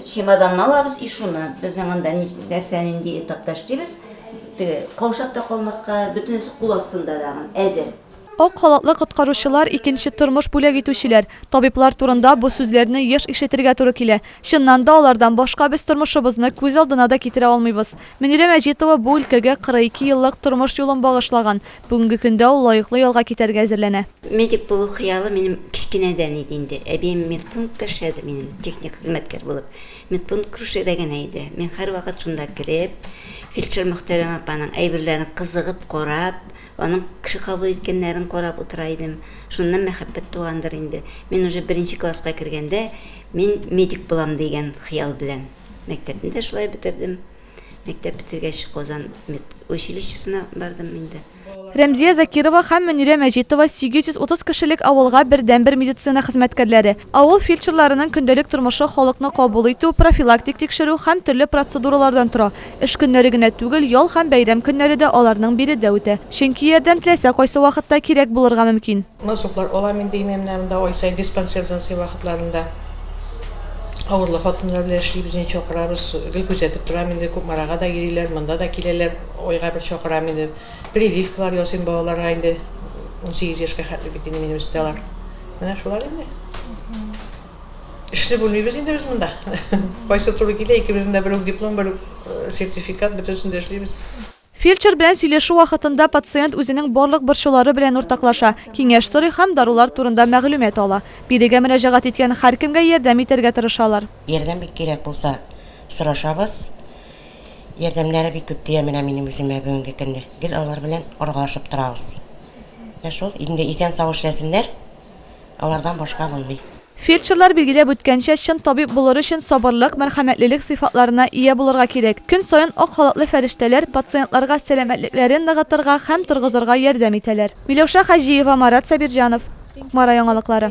Чемоданны алабыз и шуны, безнең анда нәрсә нинди этапташ дибез, теге каушап та калмаска, бөтенесе кул астында тагын, әзер. Ак халатлы коткаручылар, икенче тормыш бүләк итүчеләр, табиблар турында бу сүзләрне еш ишетергә туры килә. Чыннан да, алардан башка без тормышыбызны күз алдына да китерә алмыйбыз. Мөнирә Мәҗитова бу өлкәгә 42 еллык тормыш юлын багышлаган, Бүгенге көндә ул лаеклы ялга китәргә әзерләнә. Медик булу хыялы минем кечкенәдән иде инде. Әбием медпунктта эшләде минем, техник хезмәткәр булып. Медпункт Крушеда генә иде. Мин һәрвакыт шунда кереп, фельдшер Мөхтәрәмә апаның әйберләрен кызыгып карап, аның кеше кабул иткәннәрен карап утыра идем. Шуннан мәхәббәт тугандыр инде. Мин уже беренче класска кергәндә, мин медик булам дигән хыял белән. Мәктәпне дә шулай бетердем. Мәктәп бетергәч, Казан медучилищесына бардым инде. Рәмзия Закирова һәм Мөнирә Мәҗитова, 830 кешелек авылга бердәнбер медицина хезмәткәрләре. Авыл фельдшерларының көндәлек тормышы халыкны кабул итү, профилактик тикшерү һәм төрле процедуралардан тора. Эш көннәре генә түгел, ял һәм бәйрәм көннәре дә аларның биредә үтә. Чөнки ярдәм теләсә кайсы вакытта кирәк булырга мөмкин. Насыйплар алам инде имән менә монда ай саен диспансер зансы вакытларында авырлы хатыннар белән эшлибез инде чакырабыз гел күзәтеп торам инде кукмарага да йөриләр монда да киләләр айга бер чакырам инде прививкалар ясыйм балаларга инде унсигез яшькә хәтле бит инде минем өстә алар менә шулар инде эшли белмибез инде без монда кайсы туры килә икебезнең дә бер үк диплом бер үк сертификат бөтенесендә эшлибез. Фельдшер белән сөйләшү вакытында пациент үзенең барлык борчулары белән уртаклаша, киңәш сорый һәм дарулар турында мәгълүмат ала. Бирегә мөрәҗәгать иткән һәркемгә ярдәм итәргә тырышалар. Ярдәм бик кирәк булса, сорашабыз. Ярдәмнәре бик күп тия менә минем үземә бүгенге көндә. Гел алар белән аралашып торабыз. Менә шул, инде исән-сау эшләсеннәр. Алардан башка булмый. Фельдшерлар билгеләп үткәнчә, чын табиб булыр өчен сабырлык, мәрхәмәтлелек сыйфатларына ия булырга кирәк. Көн саен ак халатлы фәрештәләр пациентларга сәламәтлекләрен ныгытырга һәм торгызырга ярдәм итәләр. Миләүшә Хаҗиева, Марат Сабирҗанов, Кукмара яңалыклары.